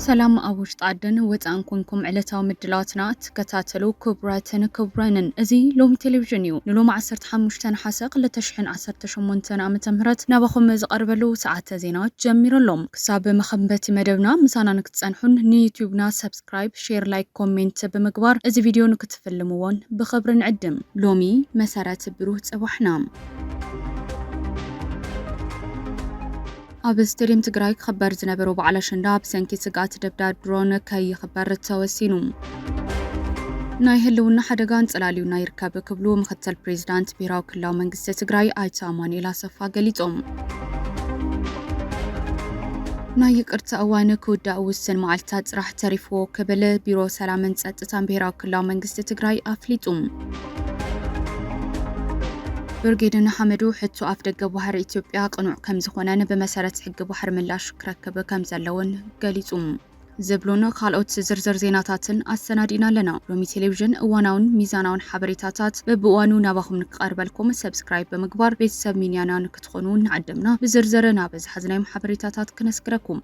ሰላም ኣብ ውሽጢ ዓድን ወፃእን ኮንኩም ዕለታዊ ምድላዋትና ትከታተሉ ክቡራትን ክቡራንን እዚ ሎሚ ቴሌቪዥን እዩ ንሎሚ ዓሰርተ ሓሙሽተ ነሓሰ ክልተ ሽሕን ዓሰርተ ሸሞንተን ዓመተ ምህረት ናባኹም ዝቀርበሉ ሰዓተ ዜና ጀሚሩ ኣሎ ክሳብ መኸምበቲ መደብና ምሳና ንክትጸንሑን ንዩቱብና ሰብስክራይብ ሼር ላይክ ኮሜንት ብምግባር እዚ ቪድዮ ንክትፍልምዎን ብኽብሪ ንዕድም ሎሚ መሰረት ብሩህ ጽባሕና። ኣብ ስቴድየም ትግራይ ክኽበር ዝነበሮ በዓል ኣሸንዳ ብሰንኪ ስግኣት ደብዳብ ድሮን ከይኽበር ተወሲኑ። ናይ ህልውና ሓደጋ ኣንጸላልዩና ይርከብ ክብሉ ምክትል ፕሬዚዳንት ብሄራዊ ክልላዊ መንግስቲ ትግራይ ኣይተ ኣማኑኤል ኣሰፋ ገሊፆም። ናይ ይቅርታ እዋን ክውዳእ ውስን መዓልትታት ጥራሕ ተሪፍዎ ክብል ቢሮ ሰላምን ፀጥታን ብሄራዊ ክልላዊ መንግስቲ ትግራይ ኣፍሊጡ። ብርጌድ ንሓመዱ ሕቶ ኣፍደገ ባሕሪ ኢትዮጵያ ቅኑዕ ከምዝኾነን ብመሰረት ሕጊ ባሕሪ ምላሽ ክረክብ ከምዘለዎን ገሊጹ። ዝብሉን ካልኦት ዝርዝር ዜናታትን ኣሰናዲእና ኣለና። ሎሚ ቴሌቪዥን እዋናውን ሚዛናውን ሓበሬታታት በብእዋኑ ናባኹም ንክቐርበልኩም ሰብስክራይብ ብምግባር ቤተሰብ ሚንያና ንክትኾኑ እናዓደምና ብዝርዝር ናበዝሓዝናዮም ሓበሬታታት ክነስግረኩም።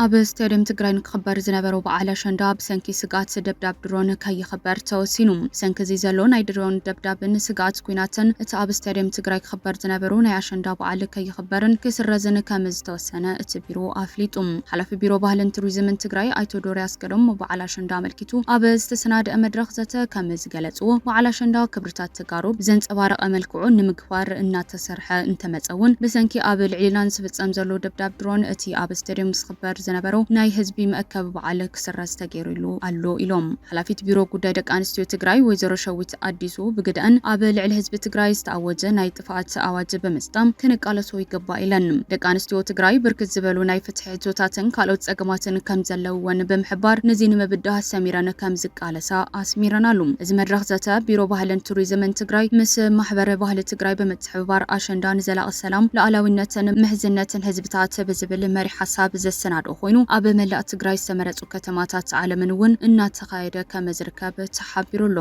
ኣብ ስቴድየም ትግራይ ንክኽበር ዝነበሮ በዓል ኣሸንዳ ብሰንኪ ስግኣት ደብዳብ ድሮን ከይኽበር ተወሲኑ። ብሰንኪ እዚ ዘሎ ናይ ድሮን ደብዳብን ስግኣት ኲናትን እቲ ኣብ ስቴድየም ትግራይ ክኽበር ዝነበሩ ናይ ኣሸንዳ በዓል ከይኽበርን ክስረዝን ከምዝተወሰነ እቲ ቢሮ ኣፍሊጡ። ሓላፊ ቢሮ ባህልን ቱሪዝምን ትግራይ ኣይተ ዶሪ ኣስገዶም ንበዓል ኣሸንዳ ኣመልኪቱ ኣብ ዝተሰናደኣ መድረኽ ዘተ ከምዝገለፅዎ፣ በዓል ኣሸንዳ ክብርታት ተጋሩ ብዘንፀባረቐ መልክዑ ንምክባር እናተ እናተሰርሐ እንተመጸ እውን ብሰንኪ ኣብ ልዕሊና ንስፍጸም ዘሎ ደብዳብ ድሮን እቲ ኣብ ስቴድየም ዝኽበር ዝነበሩ ናይ ህዝቢ መእከቢ በዓል ክስረዝ ተገይሩሉ ኣሎ ኢሎም ሓላፊት ቢሮ ጉዳይ ደቂ ኣንስትዮ ትግራይ ወይዘሮ ሸዊት ኣዲሱ ብግደኣን ኣብ ልዕሊ ህዝቢ ትግራይ ዝተኣወጀ ናይ ጥፍኣት ኣዋጅ ብምስጣም ክንቃለሶ ይግባእ ኢለን ደቂ ኣንስትዮ ትግራይ ብርክት ዝበሉ ናይ ፍትሒ ሕቶታትን ካልኦት ጸገማትን ከምዘለውወን ብምሕባር ንዚ ንምብዳህ ሰሚረን ከምዝቃለ ምልልሳ ኣስሚረናሉ። እዚ መድረኽ ዘተ ቢሮ ባህልን ቱሪዝምን ትግራይ ምስ ማሕበረ ባህሊ ትግራይ ብምትሕብባር ኣሸንዳ ንዘላቒ ሰላም፣ ሉኣላዊነትን ምሕዝነትን ህዝብታት ብዝብል መሪሕ ሓሳብ ዘሰናድኦ ኮይኑ ኣብ መላእ ትግራይ ዝተመረፁ ከተማታት ዓለምን እውን እናተኻየደ ከምዝርከብ ተሓቢሩ ኣሎ።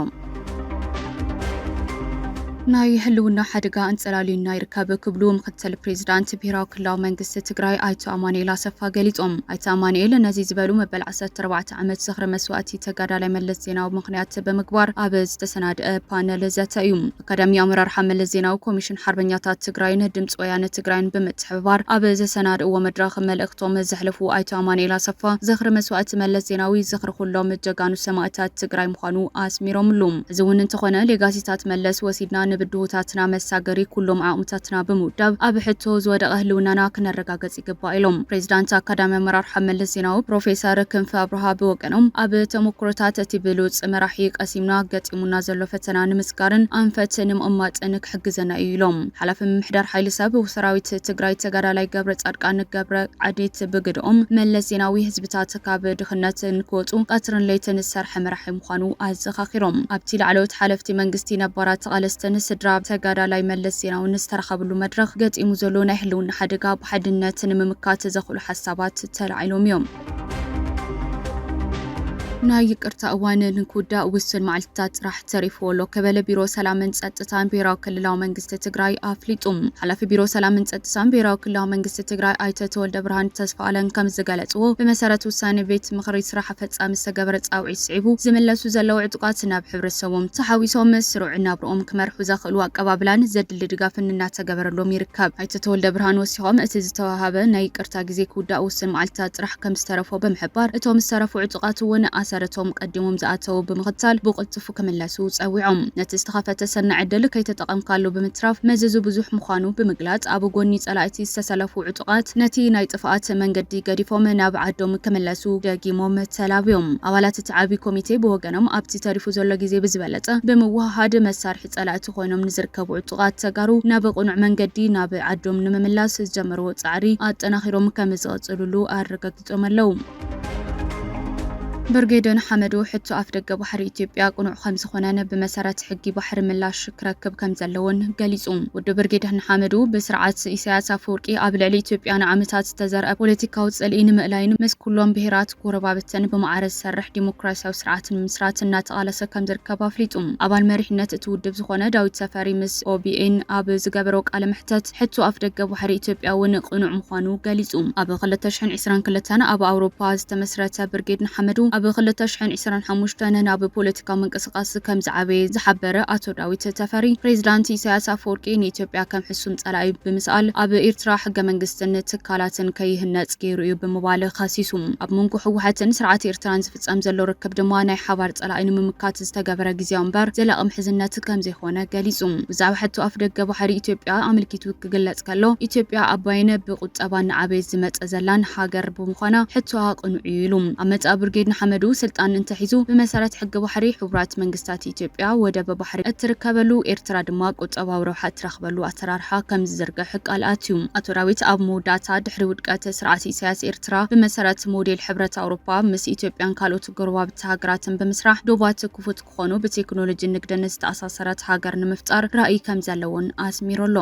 ናይ ህልውና ሓደጋ ኣንፀላልዩና ይርከብ ክብሉ ምክትል ፕሬዚዳንት ብሄራዊ ክልላዊ መንግስቲ ትግራይ ኣይተ ኣማኒኤል ኣሰፋ ገሊፆም። ኣይተ ኣማኒኤል ነዚ ዝበሉ መበል ዓሰርተ እቲ ዓመት ዝኽሪ መስዋእቲ ተጋዳላይ መለስ ዜናዊ ምኽንያት ብምግባር ኣብ ዝተሰናደኣ ፓነል ዘተ እዩ። ኣካዳሚ ኣመራርሓ መለስ ዜናዊ፣ ኮሚሽን ሓርበኛታት ትግራይን ድምፂ ወያነ ትግራይን ብምትሕብባር ኣብ ዘሰናድእዎ መድረኽ መልእኽቶም ዘሕለፉ ኣይተ ኣማኑኤል ኣሰፋ፣ ዝኽሪ መስዋእቲ መለስ ዜናዊ ዝኽሪ ኹሎም ጀጋኑ ሰማእታት ትግራይ ምዃኑ ኣስሚሮምሉ። ሕዚ እውን እንተኾነ ሌጋሲታት መለስ ወሲድና ንብድሆታትና መሳገሪ ኩሎም ዓቕምታትና ብምውዳብ ኣብ ሕቶ ዝወደቐ ህልውናና ክነረጋግፅ ይግባእ ኢሎም። ፕሬዚዳንት ኣካዳሚ ኣመራርሓ መለስ ዜናዊ ፕሮፌሰር ክንፈ ኣብርሃ ብወገኖም ኣብ ተሞክሮታት እቲ ብሉፅ መራሒ ቀሲምና ገጢሙና ዘሎ ፈተና ንምስጋርን ኣንፈት ንምቕማጥን ክሕግዘና ኢዩ ኢሎም። ሓላፊ ምምሕዳር ሓይሊ ሰብ ሰራዊት ትግራይ ተጋዳላይ ገብረፃድቃን ገብረዓዴት ብግደኦም፣ መለስ ዜናዊ ህዝብታት ህዝብታት ካብ ድኽነት ንክወፁ ቀትርን ለይትን ዝሰርሐ መራሒ ምዃኑ ኣዘኻኺሮም። ኣብቲ ላዕለዎት ሓለፍቲ መንግስቲ፣ ነባራት ተቓለስትን ስድራ ተጋዳላይ መለስ ዜናውን ዝተረኸብሉ መድረኽ ገጢሙ ዘሎ ናይ ህልውና ሓደጋ ብሓድነት ንምምካት ዘኽእሉ ሓሳባት ተላዒሎም እዮም። ናይ ይቅርታ እዋን ንክውዳእ ውሱን መዓልቲታት ጥራሕ! ተሪፉ ኣሎ ክብል ቢሮ ሰላምን ፀጥታን ብሄራዊ ክልላዊ መንግስቲ ትግራይ ኣፍሊጡ። ሓላፊ ቢሮ ሰላምን ፀጥታን ብሄራዊ ክልላዊ መንግስቲ ትግራይ ኣይተ ተወልደብርሃን ተስፋኣለም ከምዝገለፅዎ፣ ብመሰረት ውሳነ ቤት ምኽሪ ስራሕ ኣፈፃሚ ዝተገበረ ፃውዒት ስዒቡ ዝምለሱ ዘለዉ ዕጡቓት ናብ ሕብረተሰቦም ተሓዊሶም ስሩዕ ናብርኦም ክመርሑ ዘኽእሉ ኣቀባብላን ዘድሊ ድጋፍን እናተገበረሎም ይርከብ። ኣይተ ተወልደብርሃን ወሲኾም፣ እቲ ዝተወሃበ ናይ ይቅርታ ግዜ ክውዳእ ውስን መዓልትታት ጥራሕ ከምዝተረፎ ብምሕባር፣ እቶም ዝተረፉ ዕጡቓት እውን ኣሰር እቶም ኣቐዲሞም ዝኣተዉ ብምኽታል ብቕልጡፍ ክምለሱ ጸዊዖም። ነቲ ዝተኸፈተ ሰናይ ዕድል ከይተጠቐምካሉ ብምትራፍ መዘዙ ብዙሕ ምዃኑ ብምግላጽ፣ ኣብ ጎኒ ጸላእቲ ዝተሰለፉ ዕጡቓት ነቲ ናይ ጥፍኣት መንገዲ ገዲፎም ናብ ዓዶም ክምለሱ ደጊሞም ተላብዮም። ኣባላት እቲ ዓቢ ኮሚቴ ብወገኖም ኣብቲ ተሪፉ ዘሎ ግዜ ብዝበለጸ ብምውህሃድ መሳርሒ ጸላእቲ ኮይኖም ንዝርከቡ ዕጡቓት ተጋሩ ናብ ቅኑዕ መንገዲ ናብ ዓዶም ንምምላስ ዝጀመርዎ ጻዕሪ ኣጠናኺሮም ከምዝቕጽሉሉ ኣረጋጊጾም። ገሊጾም ኣለው። ብርጌድ ንሓመዱ ሕቶ ኣፍደገ ባሕሪ ኢትዮጵያ ቅኑዕ ከምዝኾነን ብመሰረት ሕጊ ባሕሪ ምላሽ ክረክብ ከምዘለዎን ገሊጹ። ውድብ ብርጌድ ንሓመዱ ብስርዓት ኢሳያስ ኣፈወርቂ ኣብ ልዕሊ ኢትዮጵያ ንዓመታት ዝተዘርኣ ፖለቲካዊ ጽልኢ ንምእላይን ምስ ኩሎም ብሄራት ጎረባብተን ብማዕረ ዝሰርሕ ዲሞክራሲያዊ ስርዓት ንምምስራት እናተቓለሰ ከምዝርከብ ኣፍሊጡ። ኣባል መሪሕነት እቲ ውድብ ዝኾነ ዳዊት ተፈሪ ምስ obn ኣብ ዝገበሮ ቃለ መሕተት፣ ሕቶ ኣፍደገ ባሕሪ ኢትዮጵያ እውን ቅኑዕ ምዃኑ ገሊጹ። ኣብ ክልተ ሽሕን ዕስራን ክልተን ኣብ ኣውሮፓ ዝተመስረተ ብርጌድ ንሓመዱ፣ ኣብ ክልተ ሽሕን ዕስራን ሓሙሽተን ናብ ፖለቲካዊ ምንቅስቓስ ከም ዝዓበየ ዝሓበረ ኣቶ ዳዊት ተፈሪ፣ ፕሬዚዳንት ኢሳያስ ኣፈወርቂ ንኢትዮጵያ ከም ሕሱም ጸላኢ ብምስኣል ኣብ ኢርትራ ሕገመንግስትን ትካላትን ከይህነጽ ገይሩ እዩ ብምባል ከሲሱ። ኣብ መንጎ ህወሓትን ስርዓት ኤርትራን ዝፍጸም ዘሎ ርክብ ድማ ናይ ሓባር ጸላኢ ንምምካት ዝተገበረ ግዝያዊ እምበር ዘላቒ ምሕዝነት ከምዘይኾነ ገሊፁ። ብዛዕባ ሕቶ ኣፍደገ ባሕሪ ኢትዮጵያ ኣመልኪቱ ክግለፅ ከሎ ኢትዮጵያ ኣባይን ብቑጠባ እናዓበየት ዝመፀ ዘላን ሃገር ብምዃና ሕቶኣ ቅኑዕ እዩ ኢሉ። ኣብ መፃኢ ብርጌድ ንሓመዱ ስልጣን እንተሒዙ ብመሰረት ሕጊ ባሕሪ ሕቡራት መንግስታት ኢትዮጵያ ወደብ ባሕሪ እትርከበሉ ኤርትራ ድማ ቁጠባዊ ረብሓ እትረኽበሉ ኣሰራርሓ ከምዝዝርግሕ ቃል ኣትዩ። ኣቶ ዳዊት ኣብ መወዳእታ ድሕሪ ውድቀት ስርዓት ኢሳያስ ኤርትራ ብመሰረት ሞዴል ሕብረት ኣውሮፓ ምስ ኢትዮጵያን ካልኦት ጎረባብቲ ሃገራትን ብምስራሕ ዶባት ክፉት ክኾኑ ብቴክኖሎጂን ንግድን ዝተኣሳሰረት ሃገር ንምፍጣር ራእይ ከምዘለዎን ኣስሚሩሉ።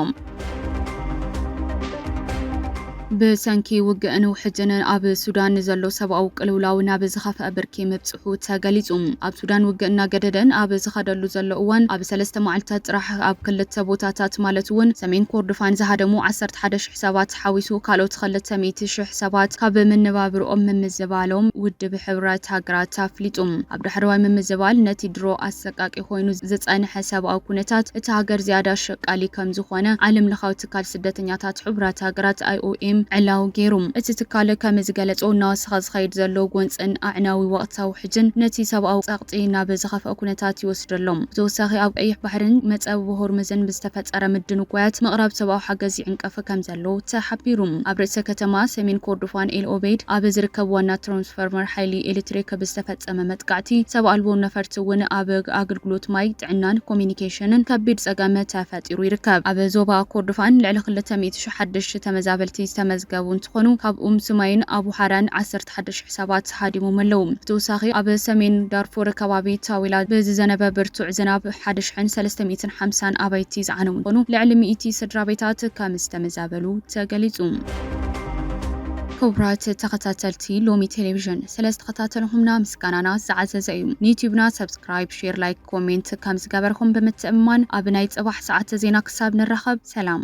ብሰንኪ ውግእን ውሕጅንን ኣብ ሱዳን ንዘሎ ሰብኣዊ ቅልውላው ናብ ዝኸፍኣ ብርኪ ምብጽሑ ተገሊጹ። ኣብ ሱዳን ውግእ እናገደደን ኣብ ዝኸደሉ ዘሎ እዋን ኣብ ሰለስተ መዓልታት ጥራሕ ኣብ ክልተ ቦታታት ማለት'ውን ሰሜን ኮርዶፋን ዝሃደሙ ዓሰርተ ሓደ ሽሕ ሰባት፣ ሓዊሱ ካልኦት ኸልተ ሚእቲ ሽሕ ሰባት ካብ መነባብርኦም ምምዝባሎም ውድብ ሕቡራት ሃገራት ኣፍሊጡ። ኣብ ዳሕረዋይ ምምዝባል ነቲ ድሮ ኣሰቃቂ ኮይኑ ዝጸንሐ ሰብኣዊ ኩነታት እታ ሃገር ዝያዳ ኣሸቃሊ ከምዝኾነ ዓለምለኻዊ ትካል ስደተኛታት ሕቡራት ሃገራት፣ IOM፣ ዕላዊ ገይሩ። እቲ ትካል ከምዝገለጾ እናወሰኸ ዝኸይድ ዘሎ ጎንጽን ኣዕናዊ ወቕታዊ ውሕጅን ነቲ ሰብኣዊ ጸቕጢ ናብ ዝኸፍኣ ኩነታት ይወስዶ ኣሎ። ብተወሳኺ ኣብ ቀይሕ ባሕርን መጸብቦ ሆርሙዝን ብዝተፈጠረ ምድንጓያት ምቕራብ ሰብኣዊ ሓገዝ ይዕንቀፍ ከምዘሎ ተሓቢሩ። ኣብ ርእሰ ከተማ ሰሜን ኮርዶፋን ኤል ኦበይድ ኣብ ዝርከብ ዋና ትራንስፈርመር ሓይሊ ኤሌክትሪክ ብዝተፈጸመ መጥቃዕቲ ሰብ ኣልቦ ነፈርቲ እውን ኣብ ኣገልግሎት ማይ፣ ጥዕናን ኮሚኒኬሽንን ከቢድ ጸገም ተፈጢሩ ይርከብ። ኣብ ዞባ ኮርዶፋን ልዕሊ ክልተ ሚእቲ ሽሕ ሓደሽቲ ተመዛበልቲ ዝተመዝገቡ እንትኾኑ ካብኡም ስማይን ኣቡ ሓራን ዓሰርተ ኣርባዕተ ሓደሽቲ ሕሳባት ሃዲሞም ኣለው። ብተወሳኺ ኣብ ሰሜን ዳርፉር ከባቢ ታዊላ ብዝዘነበ ብርቱዕ ዝናብ ሓደ ሽሕን ሰለስተ ሚእትን ሓምሳን ኣባይቲ ዝዓነው እንትኾኑ ልዕሊ ሚእቲ ስድራቤታት ከምዝተመዛበሉ ተገሊፁ። ክቡራት ተኸታተልቲ ሎሚ ቴሌቪዥን ስለዝተኸታተልኹምና ምስጋናና ዝዓዘዘ እዩ። ንዩቲዩብና ሰብስክራይብ፣ ሼር፣ ላይክ፣ ኮሜንት ከምዝገበርኹም ብምትእምማን ኣብ ናይ ፅባሕ ሰዓተ ዜና ክሳብ ንራኸብ ሰላም።